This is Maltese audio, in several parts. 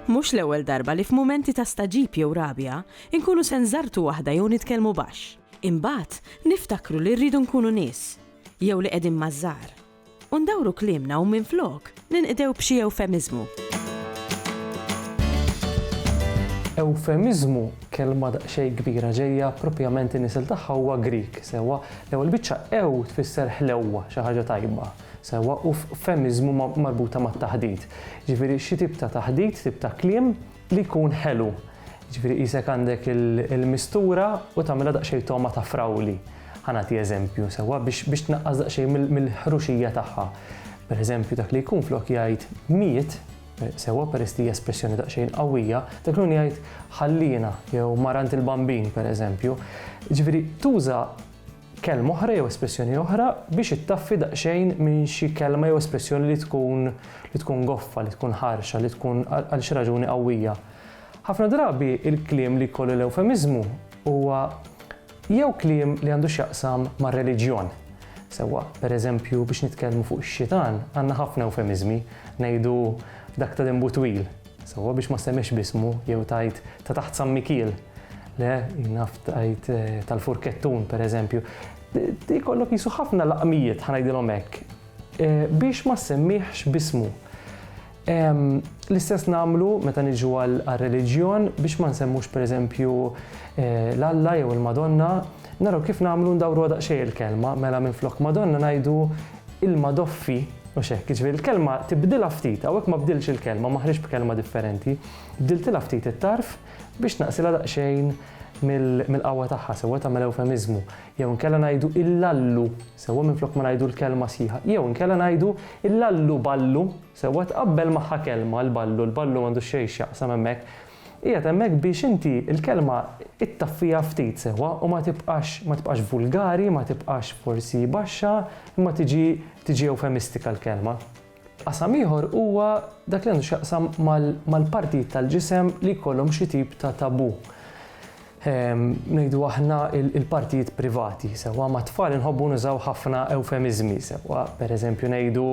Mhux l-ewwel darba li f'mumenti ta' stagħġib jew rabja, inkunu se nżarrtu waħda jew nitkellmu baxx. Imbagħad, niftakru li rridu nkunu nies, jew li qegħdin maż-żgħar. U ndawru kliemna u minflok ninqdew b'xi ewfemiżmu. Ewfemiżmu, kelma daqsxejn kbira ġejja proprjament in-nisel tagħha huwa Grieg, sewwa? L-ewwel biċċa ew tfisser ħlewwa, xi ħaġa tajba, sewwa? U femiżmu marbuta mat-taħdit. Jiġifieri xi tip ta' taħdit, tip ta' kliem, li jkun ħelu, jiġifieri qisek għandek il-mistura u tagħmilha daqsxejn togħma ta' frawli, ħa nagħti eżempju sewwa, biex tnaqqas daqsxejn mill-ħruxija tagħha. Pereżempju dak li jkun flok jgħid miet, sewwa peress li hija espressjoni daqsxejn qawwija, dak li jkun jgħid ħalliena jew marant il-bambin pereżempju. Jiġifieri tuża kelma oħra jew espressjoni oħra biex ittaffi daqsxejn minn xi kelma jew espressjoni li tkun li tkun goffa, li tkun ħarxa, li tkun għal xi raġuni qawwija. Ħafna drabi il-kliem li jkollu l-ewfemiżmu huwa jew kliem li għandu x'jaqsam mar-reliġjon, sewwa pereżempju biex nitkellmu fuq ix-xitan għandna ħafna ewfemiżmi, ngħidu dak ta' denbu twil, Sewwa biex ma ssemmix b'ismu jew tgħid ta' taħt San Mikiel, le, jien naf tgħid tal-Furkettun, pereżempju. Ikollok qisu ħafna laqmijiet, ħa ngħidilhom hekk, biex ma ssemmihx b'ismu. L-istess nagħmlu meta niġu għar-reliġjon biex ma nsemmux pereżempju l-Alla jew il-Madonna, naraw kif nagħmlu ndawruha daqsxejn il-kelma, mela minflok Madonna ngħidu ilma doffi, mhux hekk, jiġifieri l-kelma tibdilha ftit, hawnhekk ma bdiltx il-kelma, ma ħriġtx b'kelma differenti, bdiltilha ftit it-tarf biex tnaqqsilha daqsxejn mill-qawwa tagħha sewwa tagħmel ewfemiżmu, jew inkella ngħidu il-lallu sewwa minflok ma ngħidu l-kelma sħiħa, jew inkella ngħidu il-lallu ballu sewwa tqabbel magħha kelma l-ballu, l-ballu m'għandu xejn x'jaqsam hemmhekk, Qiegħed hemmhekk biex inti l-kelma ittaffiha ftit sewwa u ma tibqax ma tibqax vulgari, ma tibqax forsi baxxa, imma tiġi tiġi ewfemistika l-kelma. Qasam ieħor huwa dak li għandu x'jaqsam mal-partijiet tal-ġisem li jkollhom xi tip ta' taboo. ngħidu aħna il-partijiet privati. Sewwa ma' tfal inħobbu nużaw ħafna ewfemiżmi, sewwa pereżempju ngħidu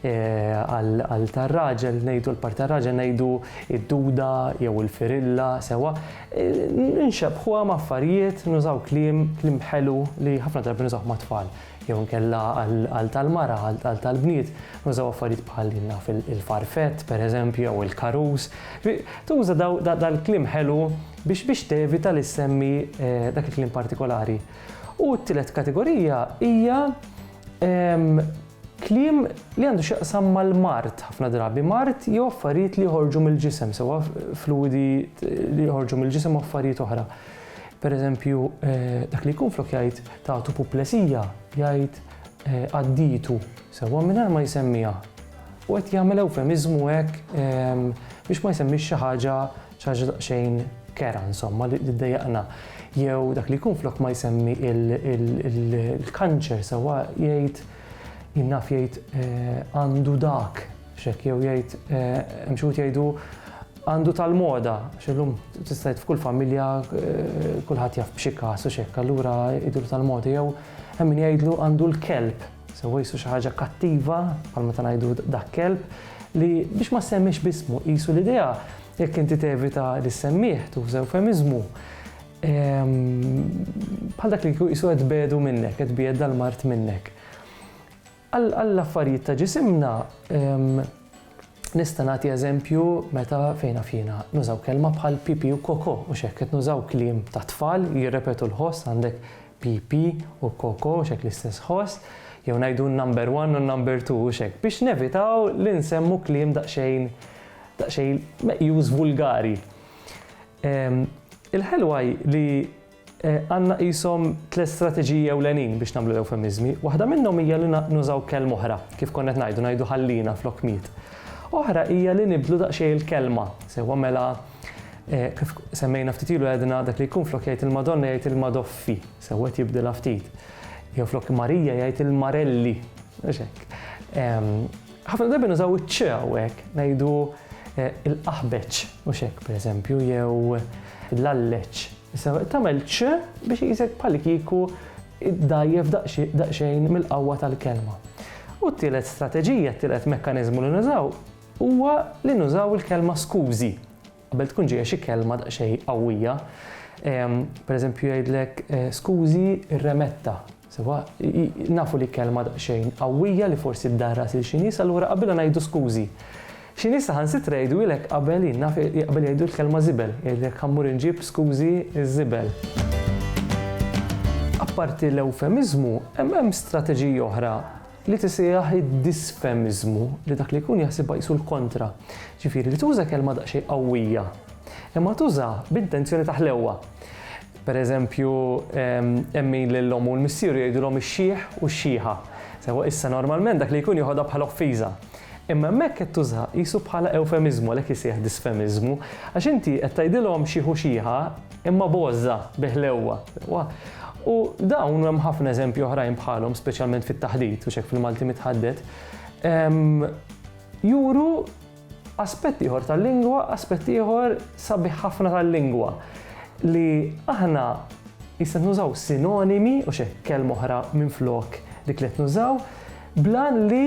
eh, għal tar-raġel ngħidu l-part tar-raġel ngħidu id-duda jew il-firilla, sewwa eh, nxebħuha ma' affarijiet nużaw kliem kliem ħelu li ħafna drabi nużaw ma' tfal jew nkella għal tal-mara, għal tal-bniet, nużaw affarijiet bħal naf il-farfett, per eżempju, jew il-karus. Tuża dal-klim ħelu biex biex tevita li ssemmi dak il-kliem partikolari. U t-tielet kategorija hija kliem li għandu x'jaqsam mal-mard ħafna drabi, mard jew affarijiet li joħorġu mill-ġisem, sewwa fluwidi li joħorġu mill-ġisem u affarijiet oħra. Per eżempju, dak li jkun flok jgħid ta' tupuplesija, jgħid għadditu, sewwa mingħajr ma jsemmiha. U qed jagħmel ewfemiżmu hekk biex ma jsemmix xi ħaġa Xi ħaġa daqsxejn kerha insomma li ddejjaqna. Jew dak li jkun flok ma jsemmi il-kanċer sewwa jgħid jien naf jgħid eh, għandu dak xek jew jgħid eh, hemm xi jgħidu għandu tal-moda, xillum tistajt f'kull familja eh, kulħadd jaf b'xi każ u xekk, allura idur tal-moda jew hemm min jgħidlu għandu l-kelb Sewwa qisu xi ħaġa kattiva, bħal meta ngħidu dak kelb, li biex ma ssemmiex b'ismu qisu l-idea jekk inti tevita li ssemmih tuża eufemiżmu. Ehm, bħal dak li kieku qisu qed bedu minnek, qed bied dal-mart minnek. Għall-affarijiet ta' ġisimna ehm, nista' nagħti eżempju meta fejna fjena nużaw kelma bħal pipi u koko u xekk qed nużaw kliem ta' tfal jirrepetu l-ħoss għandek PP u Koko, hux hekk l-istess ħoss? Jew ngħidu n-number one u n-number two, hux hekk? Biex nevitaw li nsemmu kliem daqsxejn daqsxejn meqjus vulgari. Il-ħelwa hi li għandna qishom tliet strateġiji ewlenin biex nagħmlu l-ewfemiżmi. Waħda minnhom hija li nużaw kelma oħra, kif konna qed ngħidu, ngħidu ħallina flok miet. Oħra hija li nibdlu daqsxejn il-kelma, sewwa mela Kif semmejna ftit ilu għedna dak li jkun flok jgħid il-Madonna jgħid il-Madoffi, sewwed jibdilha ftit. Jew flok Marija jgħid il-Marelli. Ħafna drabi nużaw iċ-ċ hawnhekk, ngħidu eh, il-qaħbeċ u xek pereżempju jew l-alleċ. Issa tagħmel ċ biex jisek bħal kieku dajjef daqsxejn mill-qawwa tal-kelma. U t-tielet strateġija, t-tielet mekkaniżmu li nużaw huwa li nużaw il-kelma skużi qabel tkun ġejja xi kelma daqsxejn qawwija. Ehm, pereżempju jgħidlek eh, skużi remetta. Sewa, nafu li kelma daqsxejn qawwija li forsi ddarras il xi nies allura qabel ngħidu skużi. Xi nies saħansitra jgħidu ilek qabel naf qabel jgħidu l-kelma żibel, jgħidlek ħammur inġib skużi ż-żibel. Apparti l-eufemizmu, hemm strateġiji oħra li tisejjaħ id-disfemiżmu, li dak li jkun jaħsibha qisu l-kontra, ġifieri li tuża kelma daqsxejn qawwija, imma tuża b'intenzjoni ta' ħlewwa. Per eżempju, hemm min lil ommu u l-missieru jgħidulhom ix-xiħ u x-xiħa. Sewwa issa normalment dak li jkun joħodha bħala offiża. Imma hemmhekk qed tużaha qisu bħala ewfemiżmu, għalhekk isejjaħ disfemiżmu, għax inti qed tgħidilhom xiħ u xiħa, imma b'għożża, bi ħlewwa. U dawn u hemm ħafna eżempji oħrajn bħalhom, speċjalment fit-taħdit u xek fil-Malti mitħaddet, juru aspett ieħor tal-lingwa, aspett ieħor sabi ħafna tal-lingwa li aħna jista' nużaw sinonimi u xek kelm oħra minn flok dik li qed nużaw, blan li